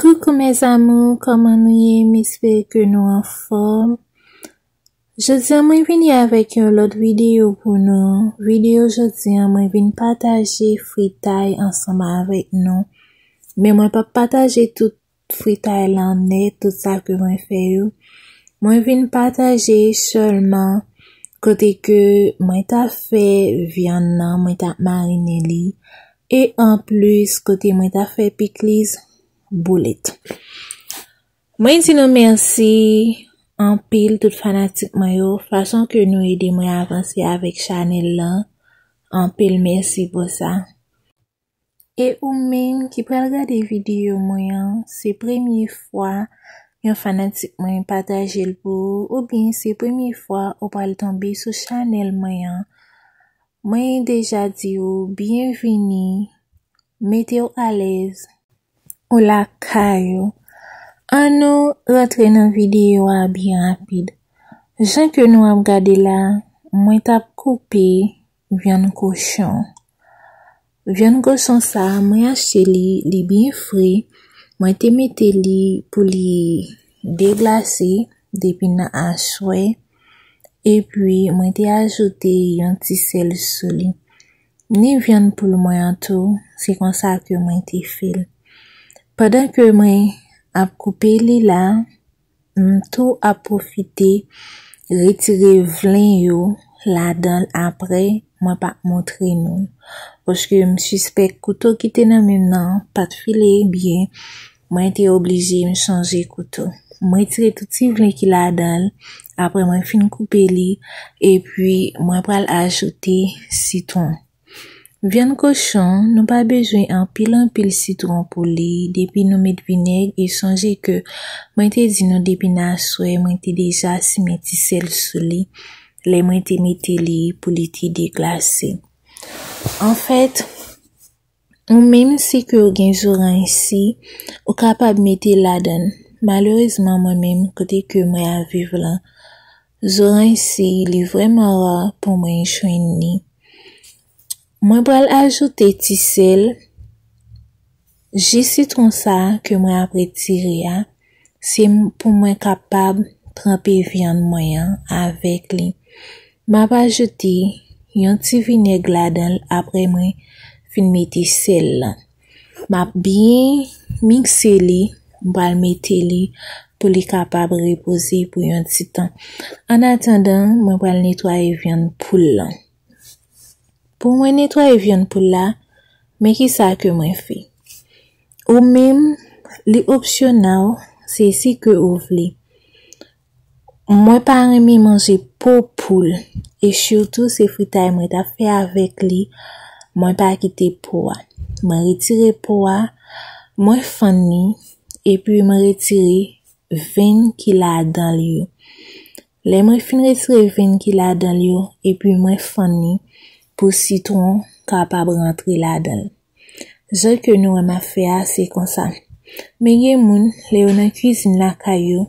Coucou mes amours kòman nou ye m espere ke nou anfòm Jodi an mwen vini avèk yon lòt videyo pou nou videyo jodi an mwen vin pataje fritay ansanm avèk nou men mwen pap pataje tout fritay lan nèt tout sa ke mwen fè yo mwen vin pataje sèlman kote ke mwen ta fè vyann nan mwen ta marine li E anplis kote mwen ta fè pikliz boulit. Mwen di nou mèsi anpil tout fanatik mwen yo fason ke nou ede mwen avanse avèk chanèl lan anpil mèsi pou sa. E ou menm ki pral gade videyo mwen an se premye fwa yon fanatik mwen pataje l pou ou oubyen se premye fwa ou pral tonbe sou chanèl mwen an Mwen deja di ou byen vini, mete w alèz. Ou lakay ou. An nou rantre nan videyo a byen rapid. Jan ke nou ap gade la, mwen tap koupe vyann kochon. Vyann kochon sa mwen achte li, li byen fre, mwen te mete li pou li deglase depi nan aswè, epi mwen te ajoute yon ti sèl sou li. Ni vyann poul mwen an tou, se konsa ke mwen te fè l. Pandan ke mwen ap koupe li la, M tou ap pwofite retire vlen yo ladan l aprè mwen pa montre nou l. Paske m sispèk kouto ki te nan men m nan pa t file byen, mwen te oblije m chanje kouto. M retire tout ti vlen ki ladan l aprè mwen fin koupe li epi mwen pral ajoute sitwon. Vyann kochon nou pa bezwen anpil anpil sitron pou li depi nou met vinèg e sonje ke mwen te di nou depi nan aswè mwen te deja simen ti sèl sou li lè mwen te mete li pou li te deglase. Anfèt ou menm si ke ou gen zoranj si ou kapab mete ladann malerezman mwen menm kote ke mwen ap viv lan Zorany si li vreman ra pou mwen jwenn li mwen pral ajoute ti sel ji sitron sa ke mwen ap retire a se pou mwen kapab tranpe vyann mwen an avèk li map ajoute yon ti vinèg ladanl aprè mwen fin mete sel lan. Map byen mikse li, m pral mete li pou li kapab repoze pou yon ti tan. An atandan, mwen pral netwaye vyann poul lan. Pou mwen netwaye vyann poul la, men ki sa ke mwen fè. Ou menm, li opsyonal, se si ke ou vle. Mwen pa renmen manje po poul e sitou se fritay mwen ta fè avèk li mwen pa kite po a mwen retire po a mwen fann li epi mwen retire venn ki ladan li yo lè mwen fin retire venn ki ladan li yo epi mwen fann li pou sitwon kapab rantre ladan li. Zòt ke nou wè m ap fè a se konsa. Men gen moun, lè yo nan kizin lakay yo,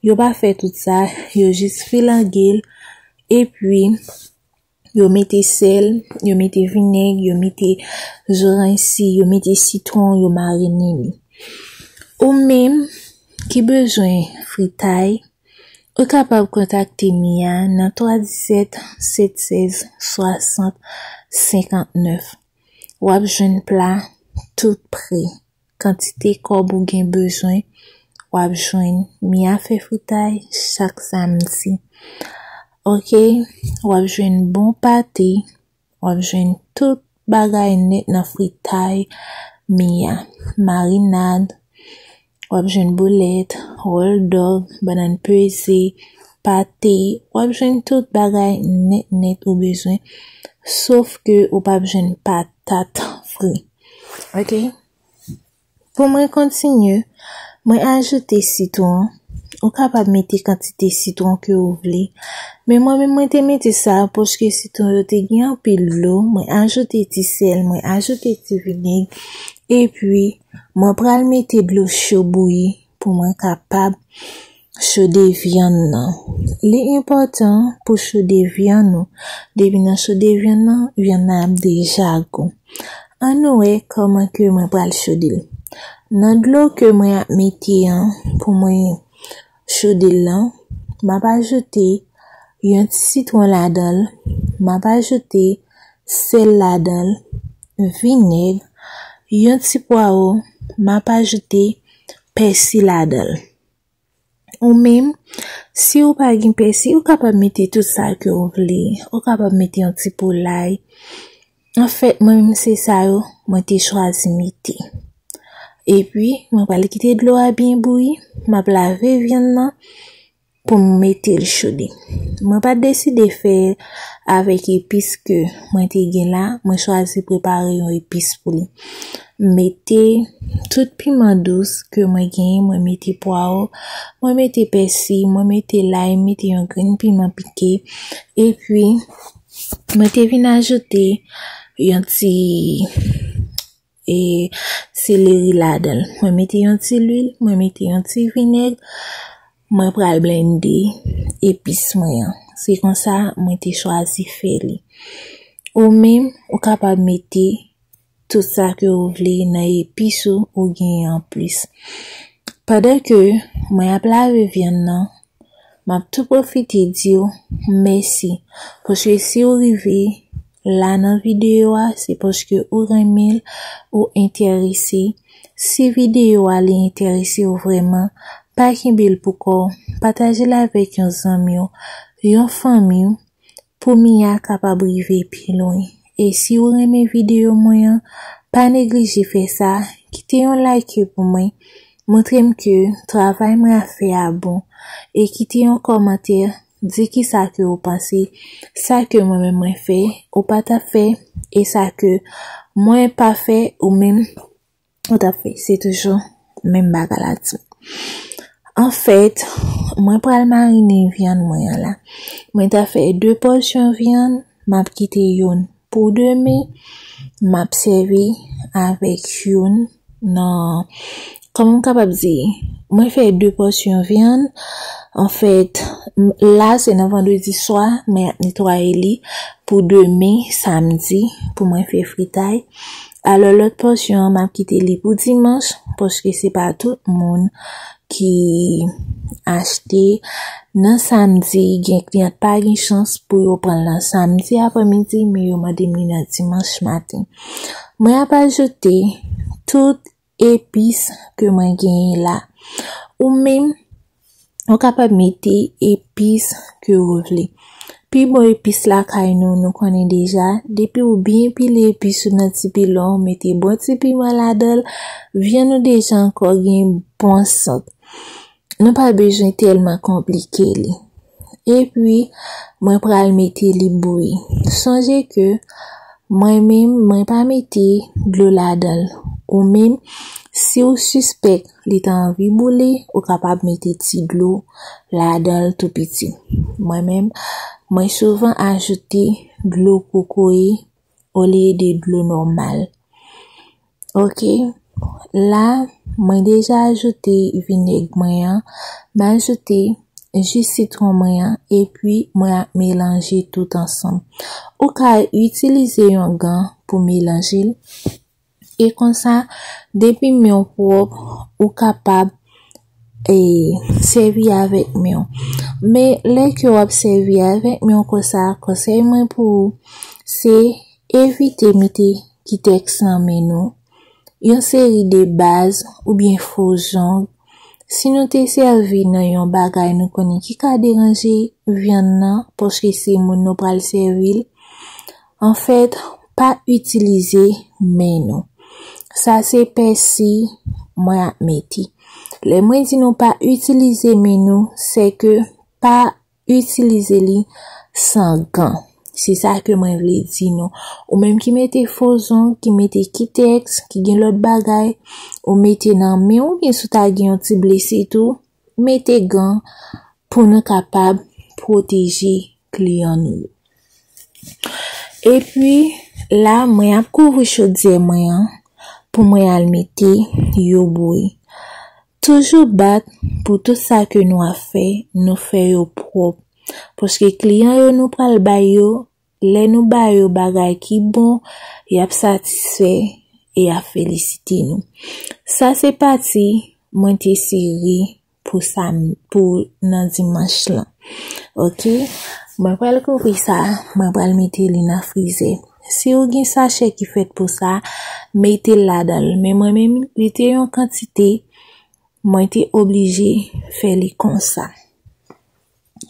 yo pa fè tout sa, yo jis filange l, epi yo mete sèl, yo mete vinèg, yo mete zoranj si, yo mete sitwon, yo marinen li. Ou menm ki bezwen fritay, ou kapab kontakte Mia nan 317 716 60 59. w ap jwenn pla tout pre, kantite kòb ou gen bezwen w ap jwenn Mia fè fritay chak samdi ok w ap jwenn bon pate w ap jwenn tout bagay nèt nan fritay Mia marinad wap jwenn boulèt, wòl dòg, banann peze, pate, wap jwenn tout bagay nèt nèt ou bezwen, sof ke ou pap jwenn patat fri. Ok, pou mwen kontinye, mwen ajoute sitwon, ou kapab mete kantite sitwon ke ou vle, men mwen menm mwen te mete sa paske sitwon yo te gen anpil dlo, mwen ajoute ti sèl, mwen ajoute ti vinèg, epi. Mwen pral mete dlo cho bouyi pou mwen kapab chode vyann nan. Li enpòtan pou chode vyann ou, depi nan chode vyann nan, vyann nan ap deja gou. An nou wè kòman ke mwen pral chode l. Nan dlo ke mwen ap mete an pou mwen Choudil lan, m ap ajoute yon ti sitwon ladan l, m ap ajoute sèl ladan l, vinèg, yon ti pwawo, m ap ajoute pèsi ladan l. Ou menm, si ou pa gen pèsi, ou kapab mete tout sa ke ou vle. Ou kapab mete yon ti pou lay. Anfèt mwen menm se sa yo mwen te chwazi mete. Epi mwen pral kite dlo a byen bouyi, map lave vyann nan pou m mete l chode. Mwen pa deside fè l avèk epis ke mwen te gen la, mwen chwazi prepare yon epis pou li. M mete tout piman dous ke mwen genyen, mwen mete pwawo, mwen mete pèsi, mwen mete lay, mete yon grenn piman pike. Epi Mwen te vin ajoute yon ti e seleri ladan l. Mwen mete yon ti lwil, mwen mete yon ti vinèg, mwen pral blende epis mwen an. Se konsa mwen te chwazi fè li. Ou menm, ou kapab mete. tout sa ke ou vle nan epis ou ou genyen an plis. Pandan ke mwen ap lave vyann nan, m ap tou pwofite di w mèsi paske si ou rive la nan videyo a se paske ou renmen l, ou enterese. Si videyo a li enterese w vrèman, pa kenbe l pou kò w, pataje l avèk yon zanmi w, yon fanmi w, Pou Mia kapab rive pi lwen. E si ou renmen video mwen an, pa neglije fè sa, kite yon like pou mwen, montre m ke travay mwen ap fè a bon, e kite yon kòmantè, di kisa ke ou panse, sa ke mwen menm mwen fè, ou pa tap fè, e sa ke mwen pa fè ou menm. Ou tap fè se toujou menm bagay la tou. Anfèt, mwen pral marine vyann mwen an la. Mwen ta fè 2 pòsyon vyann, map kite youn pou demen, map sèvi avèk youn nan, kòman m kapab di, mwen fè 2 pòsyon vyann, anfèt, la se nan vandredi swa mwen ap netwaye li pou demen samdi pou mwen fè fritay, Alò lòt pòsyon an map kite li pou dimanch paske se pa tout moun ki achte nan samdi gen kliyant pa gen chans pou yo pran nan samdi apre midi men yo mande m li nan dimanch maten. Mwen ap ajoute tout epis ke mwen genyen la. Ou menm, ou kapab mete epis ke ou vle. Pi bon epis lakay nou, nou konnen deja, depi ou byen pile epis ou nan ti pilon, ou mete bon ti piman ladanl, vyann ou deja ankò gen bon sant. Nou pa bezwen tèlman konplike li. Epi mwen pral mete li bouyi. Sonje ke mwen menm mwen pa mete dlo ladanl. Ou menm siw sispèk li ta anvi boule ou kapab mete ti dlo ladanl tou piti. Mwen menm mwen souvan ajoute dlo kokoye. olye de dlo nòmal. Ok, la mwen deja ajoute vinèg mwen an, m ajoute ji sitwon mwen an epi mwen ap melanje tout ansanm. Ou ka itilize yon gan pou melanje l. E konsa, depi men w pwòp, ou kapab e sèvi avèk men w. Men, lè ke w ap sèvi avèk men w konsa, konsèy mwen pou ou, se evite mete kitèks nan men nou, yon seri de baz oubyen fo zong. Si nou te sèvi nan yon bagay nou konnen ki ka deranje vyann nan paske se moun nou pral sèvi l, Anfèt, pa itilize men nou. Sa se pèsi mwen ap mete. Lè mwen di nou pa itilize men nou, se ke pa itilize li san gan. Se sa ke mwen vle di nou. Ou menm ki mete fo zong, ki mete kitèks, ki gen lòt bagay, ou mete nan men ou, byen si w ta gen yon ti blese tou, Mete gan pou nou kapab pwoteje kliyan nou yo. Epi la mwen ap kouvri chodyè mwen an pou mwen al mete yo bouyi. Toujou bat pou tout sa ke nou ap fè nou fè yo pwòp paske kliyan yo nou pral bay yo Lè nou ba yo bagay ki bon, y ap satisfè e y ap felisite nou. Sa se pati mwen te sere pou nan dimanch lan. Ok, mwen pral kouvri sa, mwen pral mete li nan frizè. Si ou gen sachè ki fèt pou sa, mete l ladan l. Men mwen menm, li te yon kantite, mwen te oblije fè li konsa.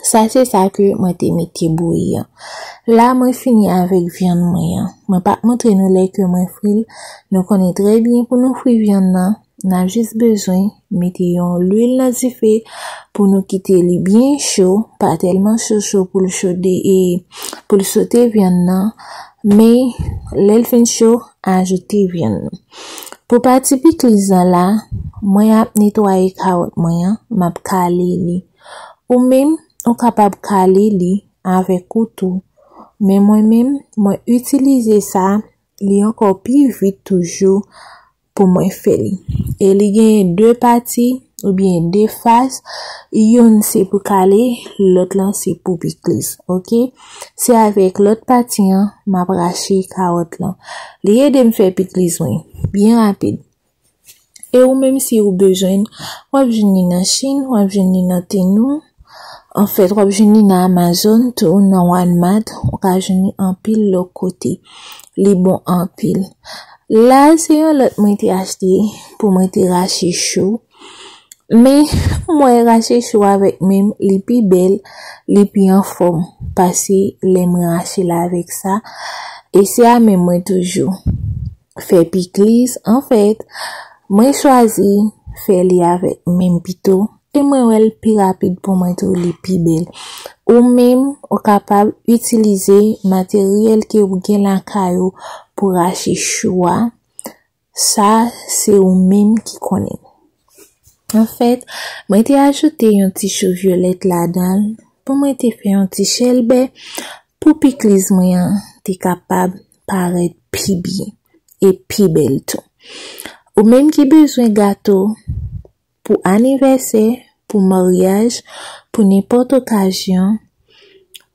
Sa se sa ke mwen te mete bouyi an. La mwen fini avèk vyann mwen an. Mwen pap montre nou lè ke mwen fri l. Nou konnen trè byen pou nou fri vyann nan, nan jis bezwen mete yon lwil nan dife pou nou kite li byen cho, pa tèlman cho cho pou l chode e pou l sote vyann nan, men lè l fin cho, ajoute vyann nan. Pou pati pikliz lan la, mwen ap netwaye kawòt mwen an, map kale li. Ou menm, ou kapab kale li avèk ou tou, men mwen menm, mwen itilize sa, li ankò pi vit toujou pou mwen fè li. E li genyen 2 pati oubyen 2 fas, youn se pou kale, lòt lan se pou pikliz, ok. Se avèk lòt pati an, m ap rache kawòt lan. Li ede m fè pikliz mwen, byen rapid. E ou menm si ou bezwen l, w ap jwenn li nan Chine, w ap jwenn li nan Temu, an fèt w ap jwenn li nan Amazon tou, nan Walmart, ou ka jwenn li anpil lòt kote. Li bon anpil. La a se yon lòt mwen te achte pou mwen te rache chou. Men, m wè rache chou avèk men m li pi bèl, li pi anfòm pase lè m rache l avèk sa. E se a men mwen toujou. fè pikliz anfèt mwen chwazi fè li avèk menm pito e mwen wèl pi rapid pou mwen tou li pi bèl ou menm ou kapab itilize materyèl ke ou gen lakay ou pou rache chou a sa se ou menm ki konnen anfèt mwen te ajoute yon ti chou vyolèt ladan pou mwen te fè yon ti chèlbè pou pikliz mwen an te kapab parèt pi byen e pi bèl tou. Ou menm ki bezwen gato pou anivèsè, pou maryaj, pou nenpòt okazyon,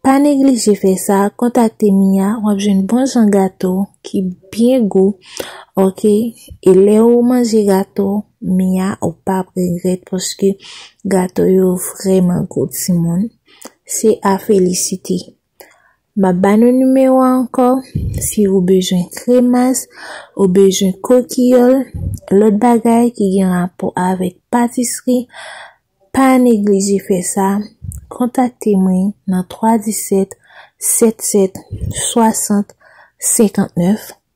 pa neglije fè sa, kontakte Mia, w ap jwenn bon jan gato ki byen gou ok e lè ou manje gato Mia ou pa ap regrèt paske gato yo vrèman gou timoun, se a felisite. Map ba nou nimewo a ankò, si ou bezwen kremas, ou bezwen kokiyòl, lòt bagay ki gen rapò avèk patisri, pa neglije fè sa, kontakte mwen nan 317 77 60 59.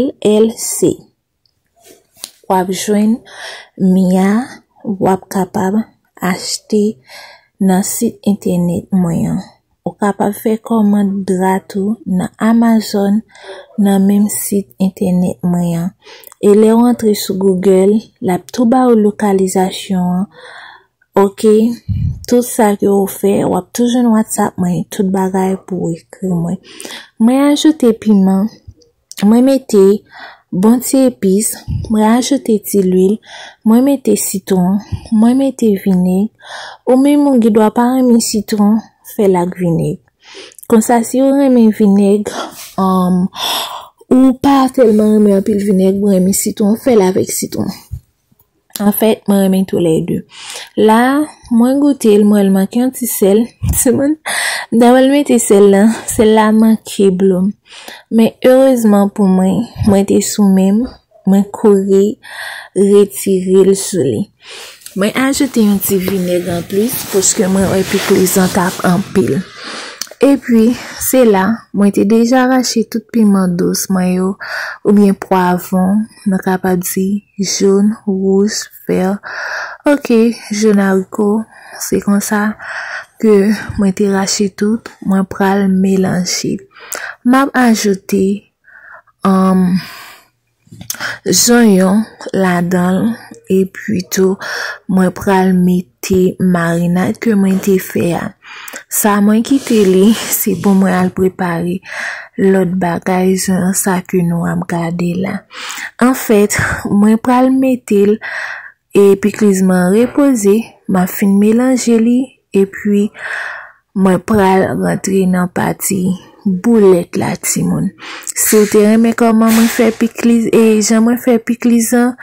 LLC wap jwenn Mia wap kapab achte nan sit entènèt mwen an ou kapab fè kòmand dra tou nan Amazon nan menm sit entènèt mwen an e lèw antre sou Google lap tou baw lokalizasyon an Ok tout sa ke ou fè wap tou jwenn whatsapp mwen tout bagay pou ou ekri mwen mwen ajoute piman mwen mete bon ti epis mwen ajoute ti lwil mwen mete sitron mwen mete vineg ou menm ou gen dwa pa renmen sitron fèl ak vineg konsa si ou renmen vineg um, ou pa tèlman renmen anpil vineg ou renmen sitron fèl avèk sitron. An fèt, mwen renmen tou lè 2. La, mwen goute l, mwen wè l manke yon ti sèl. Ti moun, dèwè l mete sèl la, sèl la manke blo. Men, erezman pou mwen, mwen te sou men m, mwen kouri retire l sou li. Mwen ajoute yon ti vinèg an plis, paske mwen wè pikliz lan t ap anpil. E pi, se la, mwen te deja rache tout piman dous mwen yo, oubyen pwavon, nou kapab di. Jaune, rouge, vert. Ok jeune haricot. Se konsa ke mwen te rache tout. Mwen pral melanje. Map ajoute um, zonyon ladanl. E pi tou mwen pral mete. te marinad ke mwen te fè a. Sa mwen kite li, se pou mwen al prepare lòt bagay jan sa ke nou ap gade la. An fèt, mwen pral mete l e pikliz mwen repoze, m ap fin melanje li e pi Mwen pral rantre nan pati boulèt la timoun. Si w te renmen kòman mwen fè pikliz e jan mwen fè pikliz an,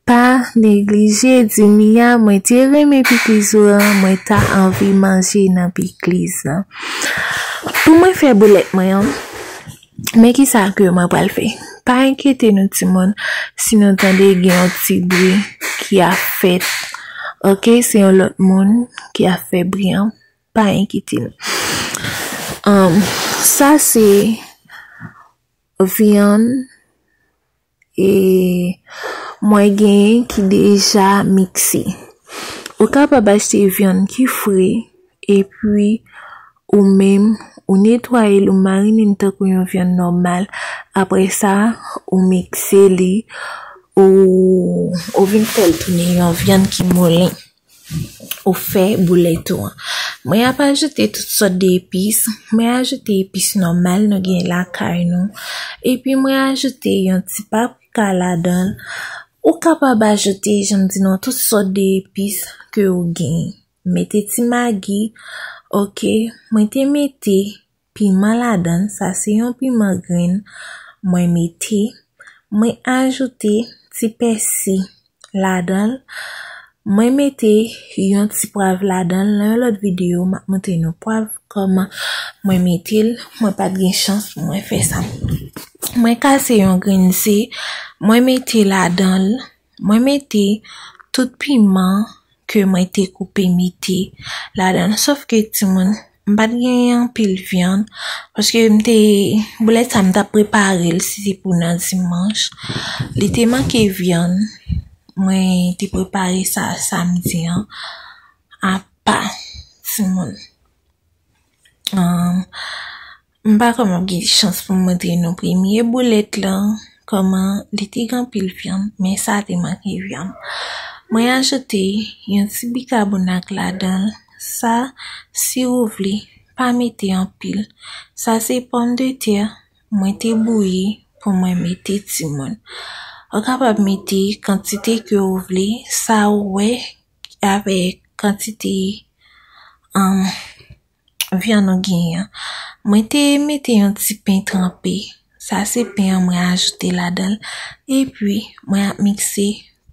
pa neglije di Mia mwen te renmen pikliz ou an, mwen ta anvi manje nan pikliz lan. Pou mwen fè boulèt mwen an, men ki sa ke mwen pral fè. Pa enkyete nou timoun, si nou tande gen yon ti bri ki ap fèt. Ok, se yon lòt moun ki ap fè bri an. Pa enkyete nou. Umm sa se vyann e mwen genyen ki deja mikse. Ou kapab achte vyann ki fre epi ou menm ou netwaye l ou marine l tankou yon vyann nòmal. Aprè sa ou mikse li ou vin fè l tounen yon vyann ki moulen. ou fè boulet ou an. Mwen ap ajoute tout sòt de epis, mwen ajoute epis nòmal nou gen lakay nou, epi mwen ajoute yon ti paprika ladan, ou kapab ajoute jan m di nou an tout sòt de epis ke ou gen, mete ti magi, ok, mwen te mete. piman ladann sa se yon piman grenn mwen mete mwen ajoute ti pèsi ladanl mwen mete yon ti pwav ladanl nan yon lòt video map montre nou pwav kòman mwen metel mwen pat gen chans pou mwen fè sa mwen kase yon grenn ze mwen mete ladanl Mwen mete tout piman ke mwen te koupe mete ladan l sof ke timoun m pat genyen anpil vyann paske m te boulèt sa m tap prepare l si se pou nan dimanch li te manke vyann mwen te prepare sa samdi an apa timoun M pa konnen m gen chans pou m montre nou premye boulèt lan, kòman li te gen anpil vyann, men sa te manke vyann. Mwen ajoute yon ti bikabonat ladan l, sa si ou vle, pa mete anpil. Sa se pòm de tè mwen te bouyi pou mwen mete timoun. Ou kapab mete kantite ke ou vle, sa ou wè avèk kantite. Vyann ou genyen an. Mwen te mete yon ti pen tranpe. Sa se pen an mwen ajoute ladan l. E pi mwen ap mikse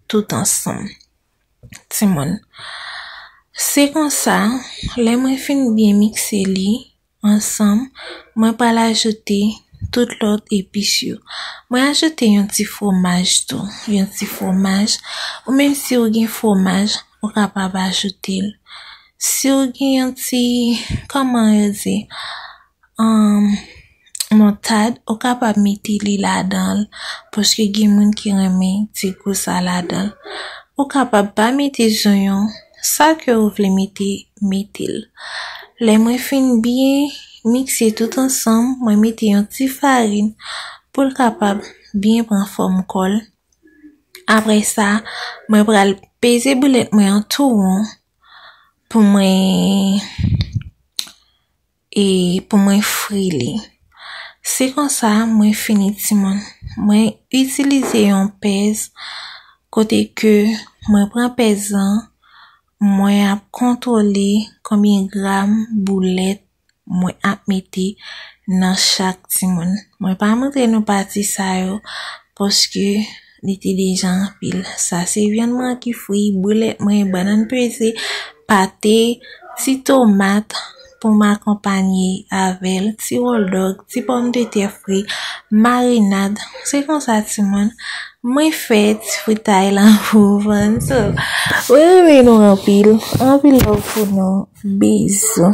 tout ansanm. Ti moun. Se konsa, lè mwen fin byen mikse li ansanm, mwen pral ajoute tout lòt epis yo. Mwen ajoute yon ti fwomaj tou. Yon ti fwomaj. Ou menm si ou gen fwomaj, ou kapab ajoute l. Siw gen yon ti kòman yo di moutad ou kapab mete li ladanl paske gen moun ki renmen ti gou sa ladanl ou kapab pa mete zonyon sa ke ou vle mete metel lè mwen fin byen mikse tout ansanm mwen mete yon ti farin poul kapab byen pran fòm kòl aprè sa mwen pral peze boulet mwen an tou won pou mwen e pou mwen fri li. Se konsa mwen fini timoun. Mwen itilize yon pèz kote ke mwen pran pèz lan mwen ap kontwole konbyen gram boulèt mwen ap mete nan chak timoun. Mwen pa montre nou pati sa yo paske li te deja anpil. Sa se vyann mwen ki fri, boulet mwen, banann peze, pate, ti tomat pou m akonpanye avèl, ti wòl dòg, ti pòm de tè fri, marinad. Se konsa timoun. Mwen fè ti fritay la pou vann so mwen renmen nou anpil anpil love pou nou bizou.